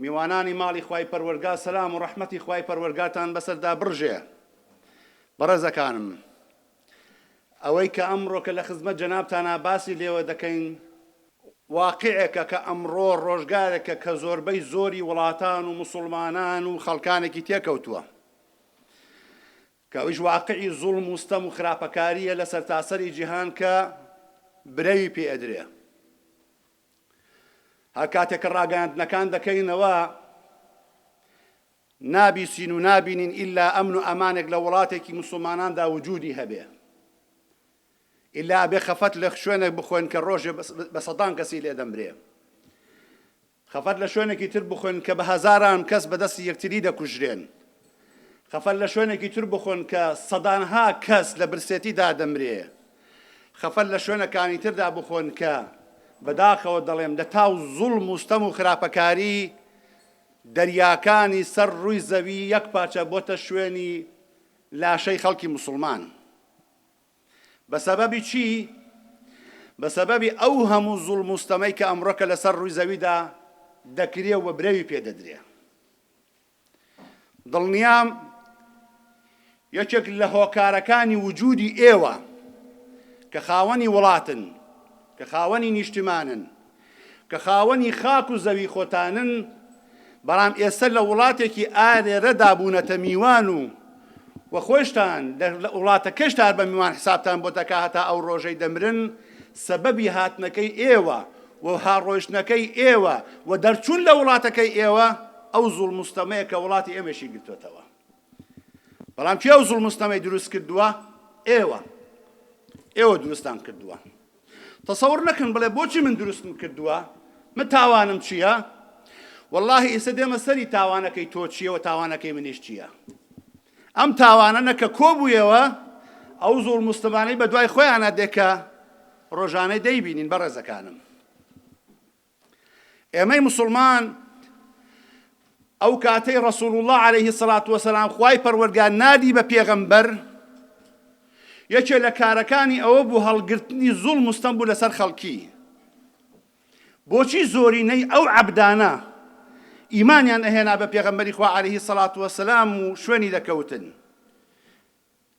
میوانانی ماڵی خوای پەروەرگا سەلام و ڕەحمەتی خوای پەروەرگاتان بەسەردا بڕژێ بەڕێزەکانم ئەوەی کە ئەمڕۆکە لە خزمەت جەنابتانا باسی لێوە دەکەین واقیعێکە کە ئەمڕۆ ڕۆژگارێکە کە زۆربەی زۆری وڵاتان و موسوڵمانان و خەڵکانێکی تێکەوتووە کە ئەویش واقعی زوڵم و ستەم و خراپەکارییە لە سەرتاسەری جیهان کە برەوی پێ ئەدرێ هەر کاتێک کە ڕاگەیاندنەکان دەکەینەوە نابیسین و نابینین ئیلا ئەمن و ئەمانێک لە وڵاتێکی مسلماناندا وجودی هەبێ ئیلا ئەبێ خەفەت لە شوێنێک بخۆن کە ڕۆژێ بە سەدان کەسی لێ دەمرێ خەفەت لە شوێنێکی تر بخۆن کە بە هەزاران کەس بەدەستی یەکتری دەکوژرێن خەفەت لە شوێنێکی تر بخۆن کە سەدانها کەس لە برسێتی دادەمرێ خەفەت لە شوێنەکانی تردا بخۆن کە بەداخەوە دەڵێم لە تاو زوڵم و ستەم و خراپەکاری دەریاکانی سەر ڕووی زەوی یەک پارچە بۆتە شوێنی لاشەی خەڵکی موسڵمان بە سەبەبی چی؟ بە سەبەبی ئەو هەموو زوڵم و ستەمەی کە ئەمڕۆکە لەسەر ڕووی زەویدا دەکرێ و بە برەوی پێ دەدرێ دڵنیام یەکێک لە هۆکارەکانی وجودی ئێوە کە خاوەنی وڵاتن، کە خاوەنی نیشتیمانن، کە خاوەنی خاک و زەوی خۆتانن، بەڵام ئێستە لە وڵاتێکی ئارێرەدا بوونەتە میوان و و خۆیشتان لە وڵاتە کەشتار بە میوان حسابتان بۆ دەکا هەتا ئەو ڕۆژەی دەمرن سەبەبی هاتنەکەی ئێوە و ها ڕۆیشتنەکەی ئێوە و دەرچوون لە وڵاتەکەی ئێوە ئەو زوڵم و ستەمەیە کە وڵاتی ئێمەشی گرتۆتەوە بەڵام کێ ئەو زوڵم و ستەمەی دروست کردووە ئێوە ئێوە دروستان کردووە تەسەور نەکەن بڵێ بۆچی من دروستم کردووە من تاوانم چییە واللهی ئیسە دێمە سەری تاوانەکەی تۆ چییە و تاوانەکەی منیش چییە ئەم تاوانە نەکە کۆبوویەوە ئەو زۆڵ مستمانەی بە دوای خۆیانە دێکە ڕۆژانەی دەیبینین بە ڕێزەکانم ئێمەی موسڵمان ئەو کاتەی ڕسول اللە علیه الصلاة والسلام خوای پەروەردگار نادی بە پێغەمبەر یەکێ لە کارەکانی ئەوە بوو هەڵگرتنی زوڵ مستەم بوو لەسەر خەڵکی بۆچی زۆرینەی ئەو عەبدانە ئیمانیان ئەهێنا بە پێغەمبەری خوا علیه الصلاة والسلام و شوێنی دەکەوتن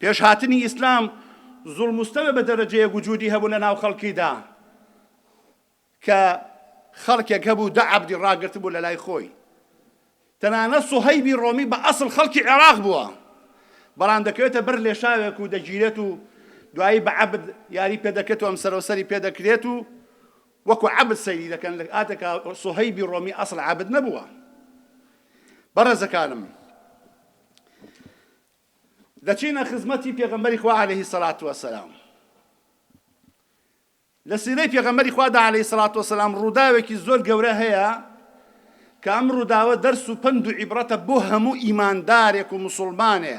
پێش هاتنی ئیسلام زوڵم و ستەمە بە دەرەجەیەک وجودی هەبوو لە ناو خەڵکیدا کە خەڵکێک هەبوو دە عەبدی ڕاگرتبوو لە لای خۆی تەنانەت سوهەیبی ڕۆمی بە ئەسڵ خەڵکی عێراق بووە بەڵام دەکەوێتە بەر لێشاوێک و دەگیرێت و دوایی بە عەبد یاری پێ دەکرێت و ئەم سەرەوسەری پێ دەکرێت و وەکو عەبد سەیری دەکەن لە ئاتەکە سوهەیبی ڕۆمی ئەسڵ عەبد نەبووە بەڕێزەکانم دەچینە خزمەتی پێغەمبەری خوا علیە الصلوة والسلام لە سیرەی پێغەمبەری خوادا علیە الصلوة والسلام ڕووداوێکی زۆر گەورە هەیە کە ئەم ڕووداوە دەرس و پند و عیبرەتە بۆ هەموو ئیماندارێک و مسلمانێ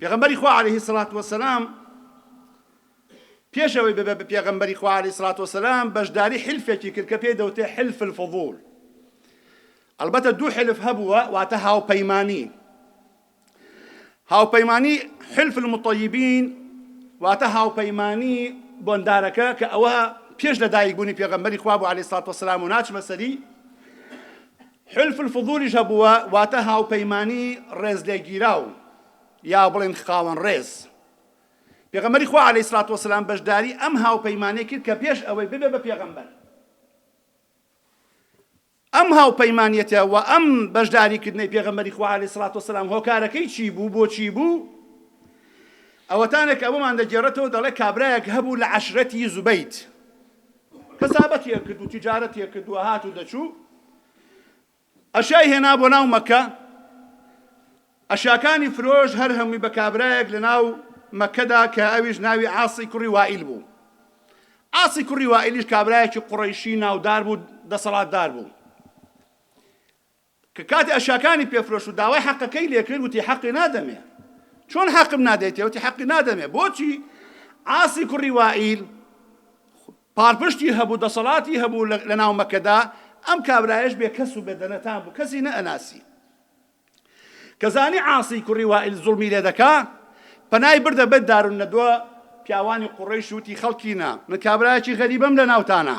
پێغەمبەری خوا علیه الصلاة والسلام پێش ئەوەی ببێ بە پێغەمبەری خوا علیه الصلاة والسلام بەشداری حلفێکی کرد کە پێی دەوتێ حلف الفضول ئەلبەتە دوو حلف هەبووە واتە هاوپەیمانی هاوپەیمانی حلف المطیبین واتە هاوپەیمانی بۆندارەکە کە ئەوە پێش لە دایک بوونی پێغەمبەری خوا بۆ علیه الصلاة والسلام و ناچمە سەری حلف الفضولیش هەبووە، واتە هاوپەیمانی ڕێزلێگیراو، یا بڵێین خاوەن ڕێز. پێغەمبەری خوا علیە الصلوة والسلام بەشداری ئەم هاوپەیمانیە کرد کە پێش ئەوەی ببێ بە پێغەمبەر ئەم هاوپەیمانیەتە و ئەم بەشداری کردنەی پێغەمبەری خوا علیە الصلوة والسلام هۆکارەکەی چی بوو بۆ چی بوو ئەوەتانێک ئەوەمان دەگێڕێتەوە دەڵێ کابرایەک هەبوو لە عەشرەتی زوبەیت کەسابەتی ئەکرد و تیجارەتی ئەکرد و ئەهات و دەچوو ئەشیای هێنا بۆ ناو مەکە ئەشیاکانی فرۆش هەر هەمووی بە کابرایەک لە ناو مەکەدا کە ئەویش ناوی عاسی کوڕی وائیل بوو ئاسی کوڕی وائیلیش کابرایەکی قوڕیشی ناودار بوو دەسەڵاتدار بوو کە کاتی ئەشیاکانی پێ فرۆشت و داوای حەقەکەی لێ کرد وتی حەقی نادەمێ چۆن حەقم نادەیتێ وتی حەقی نادەمێ بۆچی عاسی کوڕی وائیل پارپشتی هەبوو دەسەڵاتی هەبوو لە ناو مەکەدا ئەم کابرایش بێ کەس و بێدەنەتان بوو کەسی نەئەناسی کەزانی عاسی کوڕی وائیل زوڵمی لێ دەکا پەنای بردە بەر دارون نەدوە پیاوانی قوڕەیش وتی خەڵکینە من کابرایەکی غەریبەم لە ناوتانە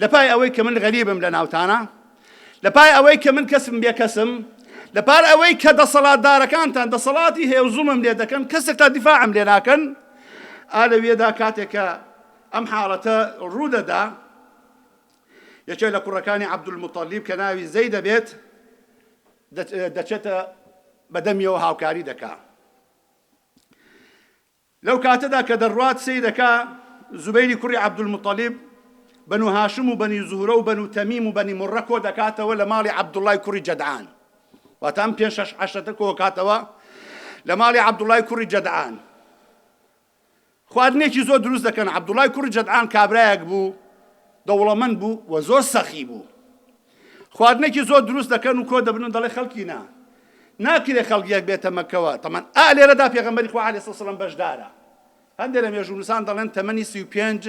لە پای ئەوەی کە من غەریبم لە ناوتانا، لە پای ئەوەی کە من کەسم بێ کەسم، لە پار ئەوەی کە دەسەڵاتدارەکانتان دەسەڵاتی هەیە و زوڵمم لێ دەکەن، کەسێک تا دیفاعم لێ ناکەن، ئا لەوێدا کاتێک کە ئەم حاڵەتە ڕوو دەدا، یەکێ لە کوڕەکانی عەبدولموتەڵیب کە ناوی زەیدە بێت، دەچێتە بە دەمیەوە هاوکاری دەکا. لەو کاتەدا کە دەڕوات سەیرەکە، زوبەیری کوڕی عەبدولموتەڵیب، بەنو هاشم و بەنی زوهرە و بەنو تەمیم و بەنی مورە کۆ دەکاتەوە لە ماڵی عەبدوڵڵای کوڕی جەدعان. واتە ئەم پێنج شەش عەشرەتە کۆ کاتەوە لە ماڵی عەبدوڵڵای کوڕی جەدعان. خواردنێکی زۆر دروست دەکەن. عەبدوڵڵای کوڕی جەدعان کابرایەک بوو دەوڵەمەند بوو و زۆر سەخی بوو. خواردنێکی زۆر دروست دەکەن و کۆ دەبن و دەڵێ خەڵکی نا ناکرێ خەڵک یەک بێتە مەکەوە تەمان ئا لێرەدا پێغەمبەری خوا عەلەیهی سڵام بەشدارە هەندێک لە مێژوونووسان دەڵێن تەمەنی سی و پێنج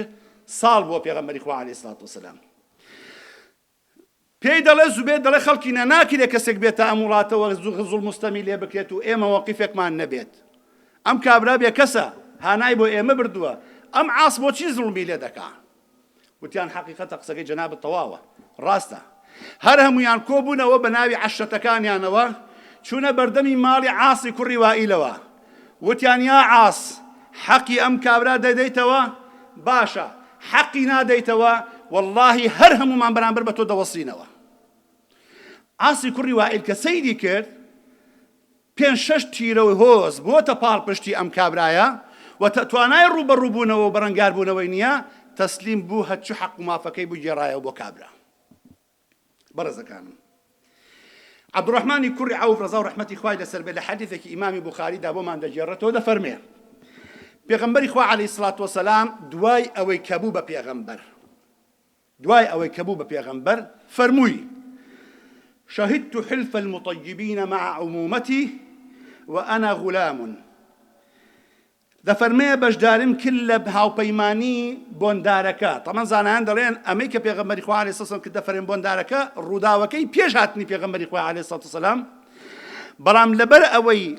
ساڵ بووە پێغەمبەری خوا عەلەیهی سڵات وسلام پێی دەڵێ زوبێت دەڵێ خەڵکی نە ناکرێت کەسێک بێتە ئەم وڵاتەوە زوغزڵ مستەمی لێ بکرێت و ئێمە وەقیفێکمان نەبێت ئەم کابرا بێ کەسە هانای بۆ ئێمە بردووە ئەم عاس بۆچی زڵمی لێ دەکات وتیان حەقیقەتە قسەکەی جەنابت تەواوە ڕاستە هەر هەمویان کۆبوونەوە بە ناوی عەشرەتەکانیانەوە چوونە بەردەمی ماڵی عاسی کوڕی وائیلەوە وتیان یا عاس حەقی ئەم کابرا دەدەیتەوە باشە حەقی نادەیتەوە واللهی هەر هەمومان بەرامبەر بە تۆ دەوەسینەوە عاسی کوڕی وائیل کە سەیری کرد پێنج شەش تیرەو هۆز بۆتە پاڵپشتی ئەم کابرایە و تە توانای ڕووبەڕوو بوونەوەو بەرەنگار بوونەوەی نیە تەسلیم بوو هە چ حەق و مافەکەی بوو گێڕایەوە بۆ کابرا بەڕێزەکانم عبدالرحمانی کوڕی عوف ڕەزاو ڕەحمەتی خوای لەسەر بێ لە حەدیثێکی ئیمامی بوخاری دا بۆمان دەگێڕێتەوە دەفەرمێ پێغەمبەری خوا علیه الصلاة والسلام دوای ئەوەی کە بوو بە پێغەمبەر دوای ئەوەی کە بوو بە پێغەمبەر فەرمووی، شهدت حلف المطیبین مع عمومتی و انا غلام، دەفەرمێ بەشداریم کرد لە هاوپەیمانی بۆندارەکە، تەمان زانایان دەڵێن ئەمەی کە پێغەمبەری خوا علیە سەسم کردە فەرێن بۆندارەکە ڕووداوەکەی پێش هاتنی پێغەمبەری خوا علیە سەسلام بەڵام لەبەر ئەوەی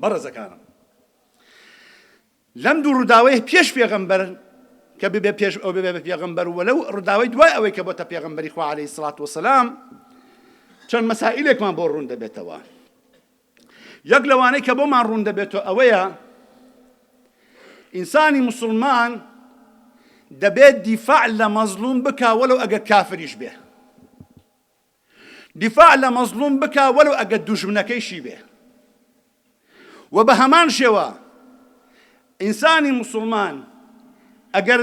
بەڕێزەکانم لەم دوو ڕوداوەی پێش پێغەمبەر کە ببێ پێش ئەو ببێ بە پێغەمبەر و لەو ڕوداوی دوای ئەوەی کە بۆتە پێغەمبەری خوا عەلەیهی سڵات وسلام چەند مەسائلێکمان بۆ ڕوون دەبێتەوە یەک لەوانەی کە بۆمان ڕوون دەبێتەوە ئەوەیە ئینسانی مسلمان دەبێت دیفاع لە مەزلوم بکە وەلو ئەگەر کافریش بێ دیفاع لە مەزڵوم بکا وەلو ئەگەر دوژمنەکەیشی بێ وە بە هەمان شێوە ئینسانی موسڵمان ئەگەر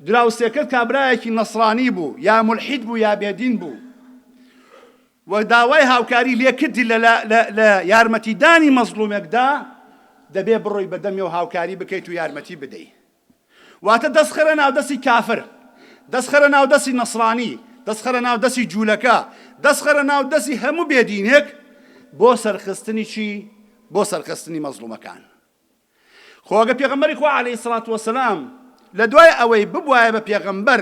دراوسێکەت کابرایەکی نەسرانی بوو یا ملحید بوو یا بێدین بوو و داوای هاوکاری لێکردی لە یارمەتیدانی مەزلومێکدا دەبێ بڕۆی بەدەمی و هاوکاری بکەیت و یارمەتی بدەیت واتە دەست خەرە ناو دەستی کافر دەست خەرە ناو دەستی نەسرانی دەست خەرە ناو دەستی جولەکە دەست خەرە ناو دەستی هەموو بێ دینێک بۆ سەرخستنی چی بۆ سەرخستنی مەزلومەکان خۆگە پێغەمبەری خوا علیه الصلاة والسلام لە دوای ئەوەی ببوایە بە پێغەمبەر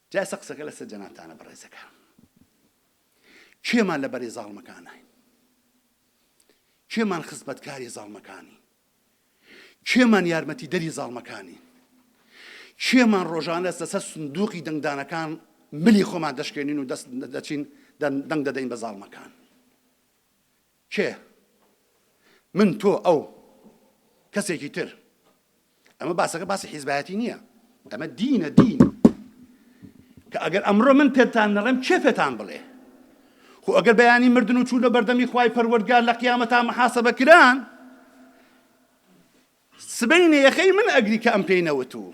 جا ئێستا قسەکە لەسەر جەنابتانە بەڕێزەکان. کێمان لەبەرەی زاڵمەکانین؟ کێمان خزمەتکاری زاڵمەکانین؟ کێمان یارمەتیدەری زاڵمەکانین؟ کێمان ڕۆژانە لەسەر سندوقی دەنگدانەکان ملی خۆمان دەشکێنین و دەست دەچین دەنگ دەدەین بە زاڵمەکان؟ کێ؟ من، تۆ، ئەو. کەسێکی تر. ئەمە باسەکە باسی حیزبایەتی نییە. ئەمە دینە، دین. کە ئەگەر ئەمڕۆ من پێتان نەڵێم کێ پێتان بڵێ؟ خۆ ئەگەر بەیانی مردن و چوونە بەردەمی خوای پەروەردگار لە قیامەتا محاسبە کران، سبەینێ یەخەی من ئەگری کە ئەم پێی نەوتوو.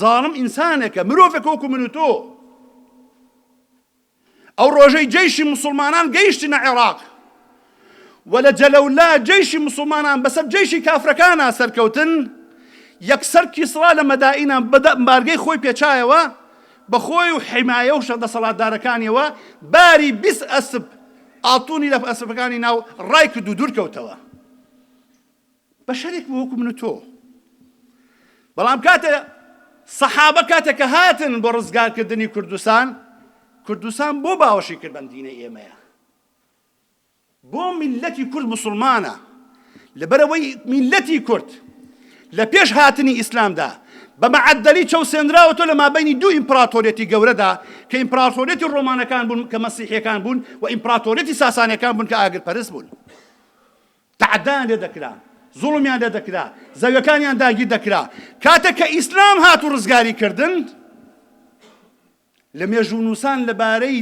زاڵم ئینسانەکە مرۆڤەکە وەکو من و تۆ. ئەو ڕۆژەی جەیشی موسڵمانان گەیشتنە عێراق و لە جەلەولا جەیشی موسڵمانان بەسەر جەیشی کافرەکانا سەرکەوتن یەکسەر کیسڕا لە مەدائینا بەدە بارگەی خۆی پێچایەوە بەخۆی و حیمایە و شە دەسەڵاتدارەکانیەوە باری بیست ئەسپ ئاڵتونی لە ئەسپەکانی ناو ڕای کرد و دوورکەوتەوە. بەشەرێک بوو وەکو من و تۆ بەڵام کاتێ سەحابە کاتێک کە هاتن بۆ ڕزگارکردنی کوردستان کوردستان بۆ باوەشی کرد بەم دینە ئێمەیە بۆ میلەتی کورد مسلمانە لەبەرەوەی میلەتی کورد لە پێش هاتنی ئیسلامدا بە مەعەدەلی چەوسێنراوە تۆ لە مابینی دوو ئیمپراتۆریەتی گەورەدا کە ئیمپراتۆریەتی ڕۆمانەکان بوون کە مەسیحەکان بوون و ئیمپراتۆریەتی ساسانەکان بوون کە ئاگر پەرست بوون تەعەدایان لێ دەکرا، زوڵمیان لێ دەکرا، زەویەکانیان داگیر دەکرا، کاتێک کە ئیسلام هات و ڕزگاری کردن، لە مێژوونووسان لە بارەی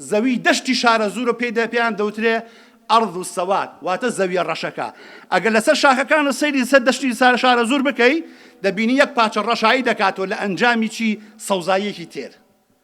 زەوی دەشتی شارەزوورە پێی پێیان دەوترێ ئەرض و سەواد واتە زەویە ڕەشەکە ئەگەر لەسەر شاخەکان و سەیری سەر دەشتی سارە شارە زور بکەی دەبینی یەک پاچە ڕەشایی دەکاتەوە لە ئەنجامی چی سەوزاییەکی تێر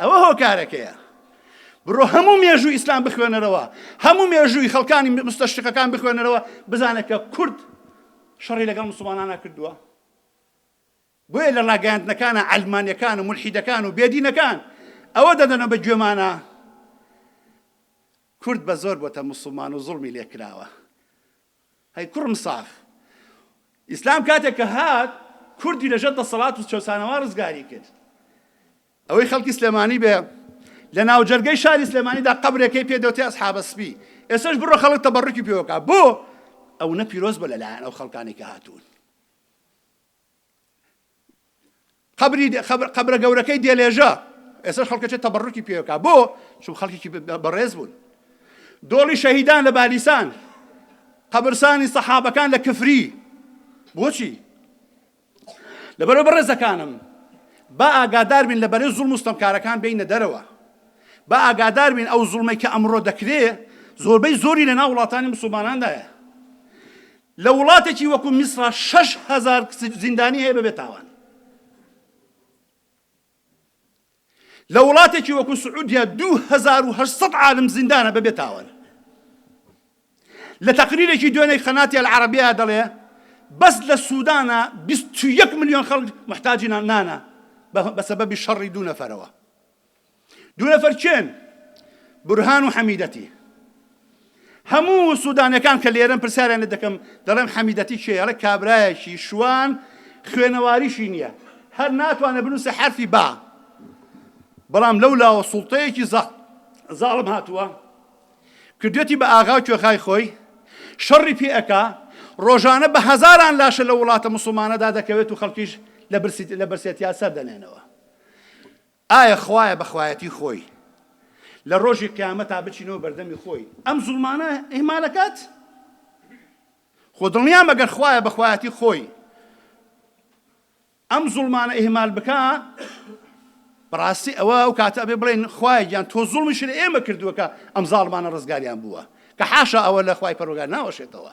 ئەوە هۆکارەکەیە بڕۆ هەموو مێژوو ئیسلام بخوێنەرەوە هەموو مێژووی خەڵکانی مستەشتەکان بخوێنەرەوە بزانە کە کورد شەڕی لەگەڵ مسلمانانە کردووە بۆیە لە ڕاگەاندنەکانە ئەلمانەکان و ملحیدەکان و بێدینەکان ئەوە دەدەنە بە گوێمانە کورد بە زۆر بۆتە مسلمان و زڵمی لێکراوە هەی کوڕم ساخ ئیسلام کاتێک کە هات کوردی لەژەر دەسەڵات و چەسانەوە ڕزگاری کرد ئەوەی خەڵکی سلێمانی بێ لە ناوجەرگەی شاری سلێمانیدا قەبرێکەی پێ دەوتێ ئەسحابە سپی ئێسش بڕۆ خەڵک تەبەڕکی پێوەکە بۆ ئەو نە پیرۆز بە لەلایەن ئەو خەڵکانی کە هاتوون قبری قبرە گەورەکەی دێلێژە ئێسش خەڵکەچێت تەبڕکی پێوەکە بۆ چون خەڵکیکی بەڕێز بوون دۆڵی شەهیدان لە بالیسان قبرسانی سەحابەکان لە کفری بۆچی لەبەرەوە بەڕێزەکانم با ئاگادار بین لە بەرەی زوڵم و ستەمکارەکان بینە دەرەوە با ئاگادار بین ئەو زوڵمەی کە ئەمڕۆ دەکرێ زۆربەی زۆری لەناو وڵاتانی مسلماناندایە لە وڵاتێکی وەکو میسرا شەش هزار زیندانی هەیە بەبێ تاوان لە وڵاتێکی وەکو سعودیا دوو هەزار و هەشت سەد عالم زیندانە بەبێ تاوان لە تەقریرێکی دوێنێی قەناتی العربیە دەڵێ بەس لە سوودانە بیست و یەک ملیۆن خەڵک محتاجی نانە بە سەبەبی شەڕی دوو نەفەرەوە دوو نەفەر کێن برهان و حەمیدەتی هەموو سودانیەکان کە لێرەن پرسیاریان لێ دەکەم دەڵێم حەمیدەتی کێیە ئەڵێ کابرایەکی شوان خوێنەواریشی نییە هەر ناتوانێت بنووسێ حەرفی با بەڵام لەو لاوە سوڵتەیەکی زەق زاڵم هاتووە کردێتی بە ئاغا و کوێخای خۆی شەڕی پێ ئەکا ڕۆژانە بە هەزاران لاشە لە وڵاتە مسلمانەدا دەکەوێت و خەڵکیش لە برسی لە برسێتیا سەردەنێنەوە ئایا خوایە بە خوایەتی خۆی لە ڕۆژی قیامەتا بچینەوە بەردەمی خۆی ئەم زوڵمانە ئیهمال ئەکات؟ خۆ دڵنیام ئەگەر خوایە بە خوایەتی خۆی ئەم زوڵمانە ئیهمال بکا بەڕاستی ئەوە ئەو کاتە ئەبێ بڵێن خوایە گیان تۆ زوڵمیشی لە ئێمە کردووە کە ئەم زاڵمانە ڕزگاریان بووە کە حاشا ئەوە لە خوای پەروەگار ناوەشێتەوە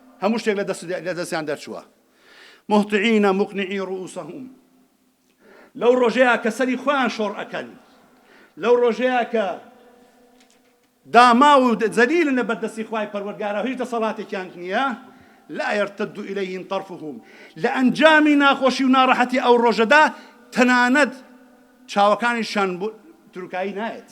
هەموو شتێک لە دەست لە دەستیان دەرچووە. مهطعین مقنعی رؤوسهم لەو ڕۆژەیا کە سەری خۆیان شۆڕ ئەکەن لەو ڕۆژەیا کە داماو و زەلیلن لە بەردەستی خوای پەروەردگارا هیچ دەسەڵاتێکیان نییە لا يرتد إليهم طرفهم لە ئەنجامی ناخۆشی و ناڕەحەتی ئەو ڕۆژەدا تەنانەت چاوەکانیشیان بۆ تروکایی نایەت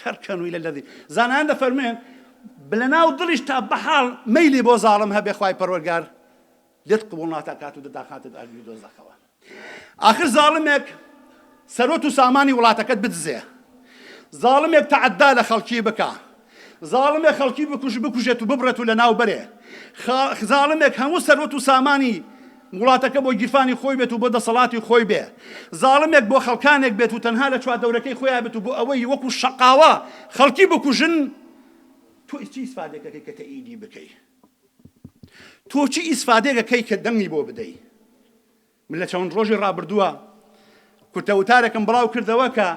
کەر کەن و لەلەدی زانایان دەفەرموێن بلەناو دڵیشتا بەحاڵ مەیلی بۆ زاڵم هەبێ خوای پەروەرگار لێت قبوڵ ناتاکات و دەداخاتە ئاگری دۆزەخەوە ئاخر زاڵمێک سەرۆت و سامانی وڵاتەکەت بدزێ زاڵمێک تەعدا لە خەڵکی بکە زاڵمێک خەڵکی بکوژ بکوژێت و ببڕێت و لە ناو بەرێ زاڵمێک هەموو سەرۆت و سامانی وڵاتەکە بۆ گیرفانی خۆی بێت و بۆ دەسەڵاتی خۆی بێ زاڵمێک بۆ خەڵکانێک بێت و تەنها لە چواردەورەکەی خۆیا بێت و بۆ ئەوەی وەکو شەقاوە خەڵکی بکوژن تۆ چی ئیسفادەکەکەی کە تەئیدی بکەی تۆ چی ئیسفادەکەکەی کە دەنگی بۆ بدەی من لە چەوەند ڕۆژی ڕابردووە کورتە وتارێکم بڵاو کردەوە کە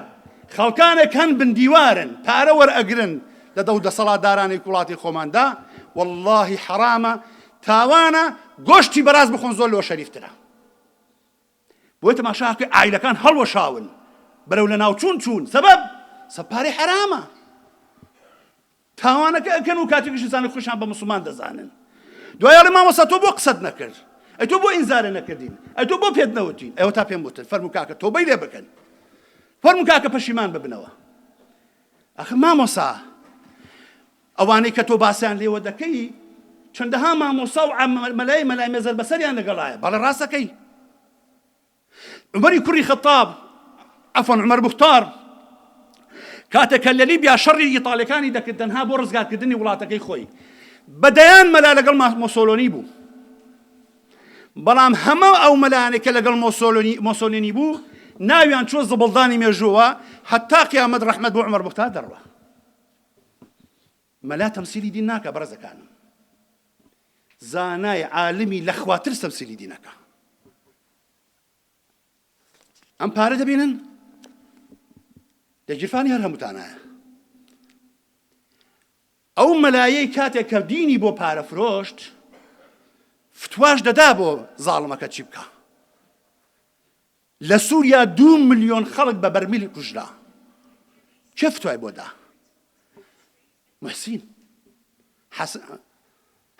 خەڵکانێک هەن بن دیوارن پارە وەرئەگرن لە دەو دەسەڵاتدارانی وڵاتی خۆماندا واللهی حەرامە تاوانە گۆشتی بەراز بخۆن زۆر لۆ شەریفترە بۆی تەماشاکە ئایلەکان هەڵوەشاون بەرەو لە ناوچوون چوون سەبەب سەپاری حەرامە تاوانەکە ئەکەن و کاتێکیش ئەزانن خۆیشان بە موسڵمان دەزانن دوای ئەڵێ مامۆستا تۆ بۆ قسەت نەکرد ئەی تۆ بۆ ئینزارە نەکردین ئەی تۆ بۆ پێت نەوتین ئەوە تا پێم وتن فەرمو کاکە تۆبەی لێ بکەن فەرمو کاکە پەشیمان ببنەوە ئەخ مامۆسا ئەوانەی کە تۆ باسیان لێوە دەکەی چەندەها مامۆسا و مەلای مەلای مێزەر بەسەریان لەگەڵایە بەڵێ ڕاستەکەی عومەری کوڕی خەتاب، عەفوەن عومەر موختار، کاتێک کە لە لیبیا شەڕی ئیتاڵیەکانی دەکرد تەنها بۆ ڕزگارکردنی وڵاتەکەی خۆی بە دەیان مەلا لەگەڵ مۆسۆلۆنی بوو بەڵام هەمە ئەو مەلانێک کە لەگەڵ مۆسۆلۆنی مۆسۆلێنی بوو ناویان چوە زبڵدانی مێژووە حتا قیامەت ڕحمەت بۆ عمر بختار دەڕوە مەلا تەمسیلی دین ناکا بەڕێزەکانم زانای عالمی لەخواتر تەمسیلی دینەکە ئەم پارە دەبینن لە گیرفانی هەر هەمووتانایە ئەو مەلایەی کاتێک کە دینی بۆ پارە فرۆشت فتواش دەدا بۆ زاڵمەکە چی بکە لە سوریا دوو ملیۆن خەڵک بە بەرمیل کوژرا کێ فتوای بۆ دا محسین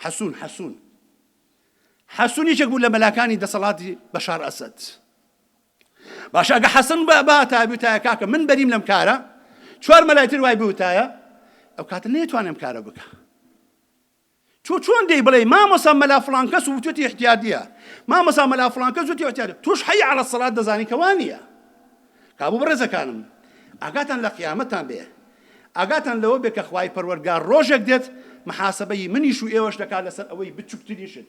حەسون حەسون حەسون یەکێک بوو لە مەلاکانی دەسەڵاتی بەشار ئەسد باشە ئەگە حەسن بە باتای بوتایە کاکە من بەریم لەم کارە چوار مەلایتر وای بوتایە ئەو کاتە نێتوانێم کارە بکە تۆ چۆن دێی بڵێی مامۆسا مەلا فڵان کەس وتوتی احتیادیە مامۆسا مەلا فڵان کەس وتی احتیادیە تۆش حی علی الصلات دەزانی کە وا نییە کابوو بەڕێزەکانم ئاگاتان لە قیامەتان بێ ئاگاتان لەوە بێ کە خوای پەروەردگار ڕۆژێک دێت محاسبەی منیش و ئێوەش دەکات لەسەر ئەوەی بچووکترین شت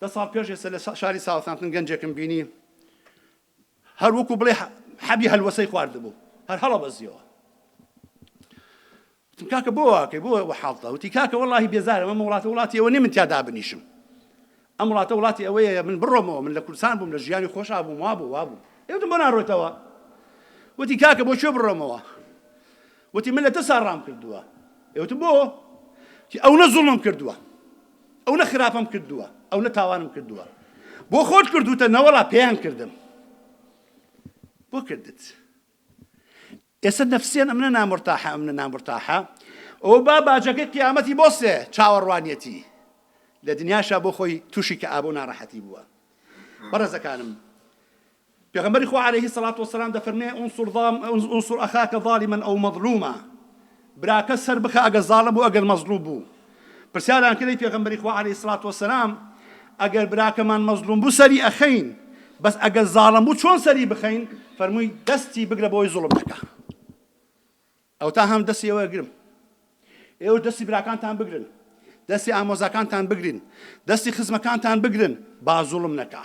دە ساڵ پێش ئێستا لە شاری ساوثامپتن گەنجێکم بینی هەر وەکو بڵێ حەبی هەلوەسەی خواردبوو هەر هەڵەبەزیەوە وتم کاکە بۆ واکەی بۆ وە حاڵتە وتی کاکە وەڵی بێزارم ئەم وڵاتە وڵاتی ئەوە نی من تیا دابنیشم ئەم وڵاتە وڵاتی ئەوەیە من بڕۆمەوە من لە کوردستان بووم لە ژیانی خۆشا بووم وا بوو وا بوو ئێوتم بۆ ناڕۆیتەوە وتی کاکە بۆ کوێ بڕۆمەوە وتی من لە ترسا ڕام کردووە. ئێوتم بۆ؟ وتی ئەونە زوڵمم کردووە، ئەونە خراپەم کردووە، ئەونە تاوانم کردووە. بۆ خۆت کردووتە؟ نەوەڵا پێیان کردم. بۆ کردت؟ ئێستا نەفسیان ئەمنە نامرتاحە ئەمنە نامرتاحە ئەوە با باجەکەی قیامەتی بۆ سێ چاوەڕوانیەتی لە دنیاشا بۆ خۆی تووشی کە ئابوو ناڕەحەتی بووە بەڕێزەکانم پێغەمبەری خوا علیە الصلوة والسلام دەفەرموێ، انصر اخاک ظالما او مظلوما، براکە سەر بخە ئەگەر زاڵم بوو ئەگەر مەزڵوم بوو، پرسیاریان کرد ئەی پێغەمبەری خوا علیە الصلوة والسلام ئەگەر براکەمان مەزڵوم بوو سەری ئەخەین بەس ئەگەر زاڵم بوو چۆن سەری بخەین؟ فەرمووی دەستی بگرە بۆی زوڵم نەکا. ئەوتا هەم دەستی ئەوە گرم ئێوەش دەستی براکانتان بگرن دەستی ئامۆزاکانتان بگرین دەستی خزمەکانتان بگرن با زوڵم نەکا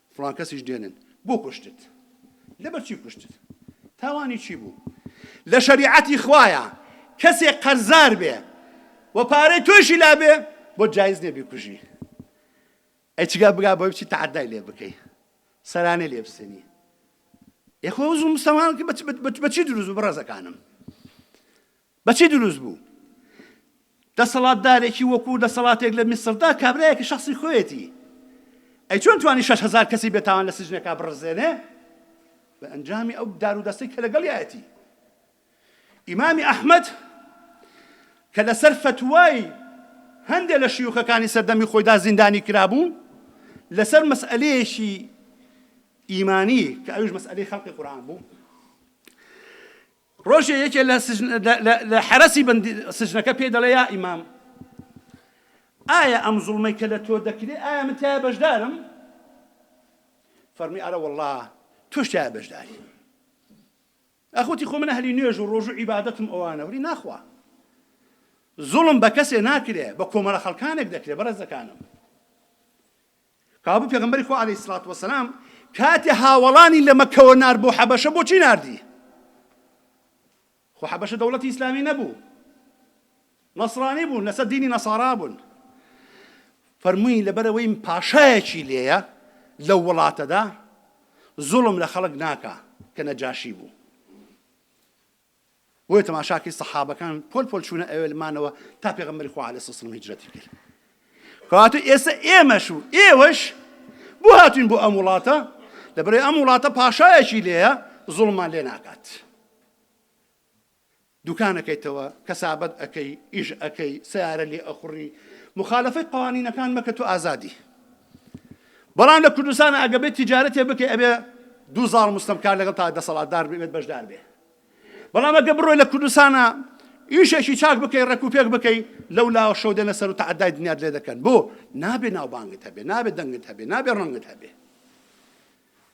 فڵان کەسیش دێنن بۆ کوشتت لەبەر چی کوشتت تاوانی چی بوو لە شەریعەتی خوایە کەسێک قەرزار بێ و پارەی تۆشی لابێ بۆ جایز نیە بیکوژی ئەی چگا بگا بۆی بچی تەعدای لێ بکەی سەرانێ لێ بسێنی یخۆ زوو مسلمان بەچی دروست بڕێزەکانم بە چی دروست بوو؟ دەسەڵاتدارێکی وەکوو دەسەڵاتێک لە میسڕدا کابرایەکی شەخسی خۆیەتی، ئەی چۆن توانی شەش هەزار کەسی بێ تاوان لە سجنێکا بڕزێنێ؟ بە ئەنجامی ئەو دار و دەستەی کە لەگەڵیایەتی. ئیمامی ئەحمەد کە لە سەر فەتوای هەندێ لە شیوخەکانی سەردەمی خۆیدا زیندانی کرا بوو، لە سەر مەسئەلەیەکی ئیمانی کە ئەویش مەسئەلەی خەلقی قورئان بوو، ڕۆژێ یەکێ لە سجن لە لە لە حەرەسی بەندی سجنەکە پێی دەڵێ یا ئیمام ئایا ئەم زوڵمەی کە لە تۆ دەکرێ ئایا من تایە بەشدارم فەرمی ئەرە وەڵا تۆش تایە بەشداری ئەخوتی خۆ من ئەهلی نوێژ و ڕۆژ و عیبادەتم ئەوانە وری ناخوا زوڵم بە کەسێ ناکرێ بە کۆمەڵە خەڵکانێک دەکرێ بەڕێزەکانم کابوو پێغەمبەری خوا علیە سڵات وسلام کاتێ هاوەڵانی لە مەکەوە نار بۆ حەبەشە بۆچی ناردی خۆ حەبەشە دەوڵەتی ئیسلامی نەبوو نەسرانی بوون لەسەر دینی نەسارا بوون فەرمووی لەبەرەوەی پاشایەکی لێیە لەو وڵاتەدا زوڵم لە خەڵک ناکا کە نەجاشی بوو بۆیە تەماشاکەی سەحابەکان پۆل پۆل چوونە ئەوێل مانەوە تا پێغەمبەری خوا علیه السلام هجرەتی کرد کەواتە ئێستا ئێمەش و ئێوەش بۆ هاتوین بۆ ئەم وڵاتە لەبەرەی ئەم وڵاتە پاشایەکی لێە زوڵمان لێ ناکات دوکانەکەیتەوە کەسابەت ئەەکەی ئیش ئەەکەی سیارە لێ ئەخوڕی مخالفەی قوانینەکان مەکە تۆ ئازادی بەڵام لە کوردستان ئەگە بێت تیجارەتێ بکەی ئەبێ دوو زاڵ مستەمکار لەگەڵ تا دەسەڵات دار بێت بەشدار بێ بەڵام ئەگە بڕۆی لە کوردستانە ئیشێکی چاک بکەی ڕێک و پێک بکەی لەو لاوە شەو دێنە سەر و تەعدای دنیات لێ دەکەن بۆ نابێ ناوبانگت هەبێ نابێ دەنگت هەبێ نابێ ڕەنگت هەبێ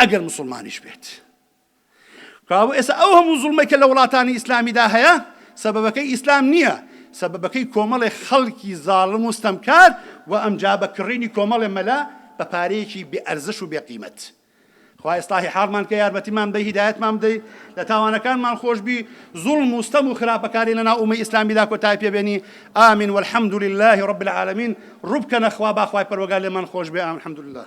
ئەگەر موسڵمانیش بێت. کەوابوو ئێستا ئەو هەموو زوڵمەی کە لە وڵاتانی ئیسلامیدا هەیە، سەبەبەکەی ئیسلام نییە، سەبەبەکەی کۆمەڵێ خەڵکی زاڵم و ستەمکار و ئەمجا بە کڕینی کۆمەڵێ مەلا بە پارەیەکی بێ ئەرزش و بێ قیمەت. خوایە ئیسڵاحی حاڵمان کە یارمەتیمان بەی هیدایەتمان بدەی لە تاوانەکانمان خۆش بی زوڵم و ستەم و خراپەکاری لەناو ئومەی ئیسلامیدا کۆتای پێبێنی ئامین والحمد لله رب العالمین ڕوبکەنە خوا باخوای پەروەگار لێمان خۆش بێ ئامین الحمد لله